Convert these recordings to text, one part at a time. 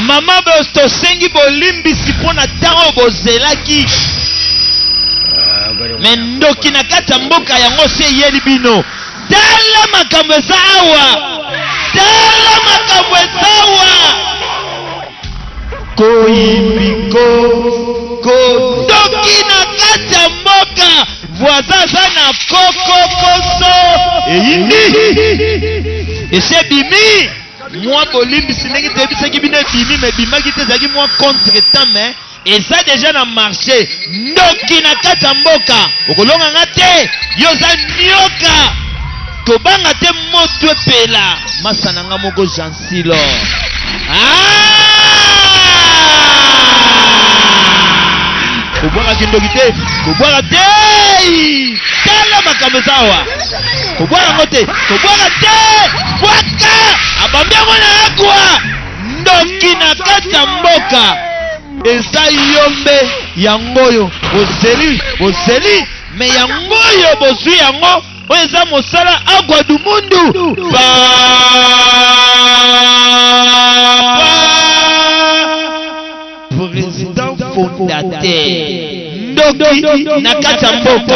mama bos tosengi bolimbisi mpo na ntango bozelaki me ndoki na kati ya mboka yango se eyeli bino tala makambo eza awa tala makambo eza awa Koyibiko ko ndoki na kati ya mboka voisin aza na koko koso eyindi esi ebimi mwa bolimbisi ndenge toyebisaki bino ebimi me ebimaki te ezalaki mwa contre temps me Eza deja na marche ndoki na kati ya mboka okolonga nga te yo oza nioka tobanga te moto epela masa na nga moko jansilo ah! kobwaka kindoki te kobwaka te tala makambo eza awa kobwaka yango te kobwaka te bwaka abambi yango na agwa Ndoki na kati ya mboka eza yombe yango oyo bozeli bozeli me yango oyo bozwi yango oyo eza mosala agwa dumundu ba président fondateur ndoki na kati ya mboka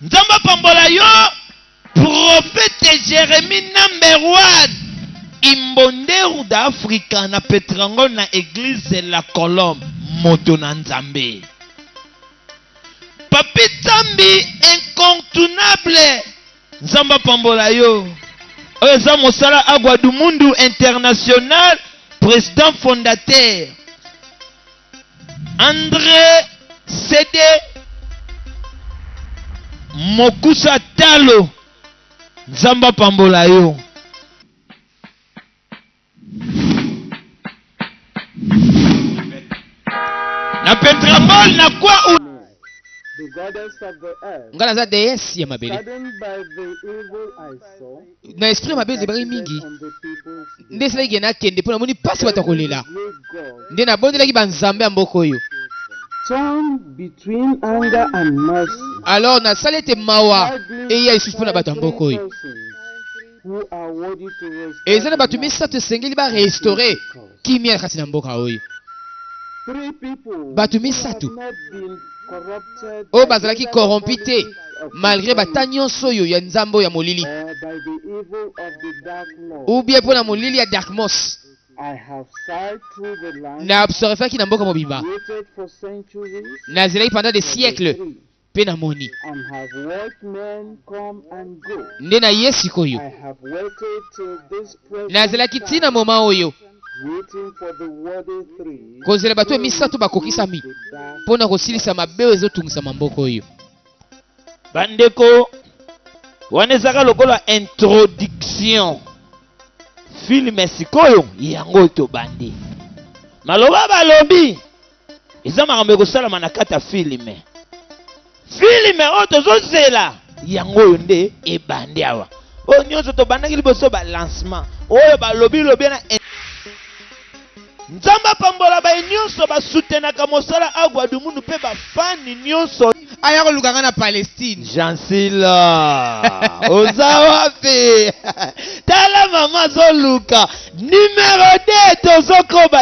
Nzambe apambola yo prophète Jérémie number one imbonderu d'Africa na Petrangon na église la Colombe moto na Nzambe Papi Tsambi incontournable Nzambe apambola yo oyo eza mosala Agua do Mundo International président fondateur Andre Sede Mokusa Talo Nzambe apambola yo. Na Pentramol na kwa u Nga naza deesse ya mabele. na esprit mabe ezebaki mingi nde esalaki ke nakende mpo namoni mpasi bato ya kolela nde nabondelaki banzambe ya mboka oyo alors nasali ete mawa eya lisusu mpo na bato ya mboka oyo eza na bato misato esengeli barestore Kimia kati na mboka oyo. Bato misato oyo bazalaki korompi te malgre bata nyonso oyo ya nzambo ya molili ubie mpo na molili ya darkmos na absorfaki na mboka mobimba nazelaki pendant des siècles Pe na moni. Nde na ye sikoyo. Na zelaki ti na moment oyo. Ko zela bato misato ba kokisami po na ko silisa mabe oyo ezo tungisa ma mboka oyo. Ba ndeko, wana ezaka lokola introduction. Film sikoyo yango to bandi. Maloba ba lobi. eza makambo ekosalama na kati ya filime filime oyo tozozela yango oyo nde ebandi awa oyo nyonso tobandaki liboso balancement oyo balobi lobi na nzambe apambola baye nyonso basutenaka mosala agwa dumunu mpe bafani nyonso aya koluka nga na palestine jansila oza wapi tala mama azoluka nimero 2 tozokoba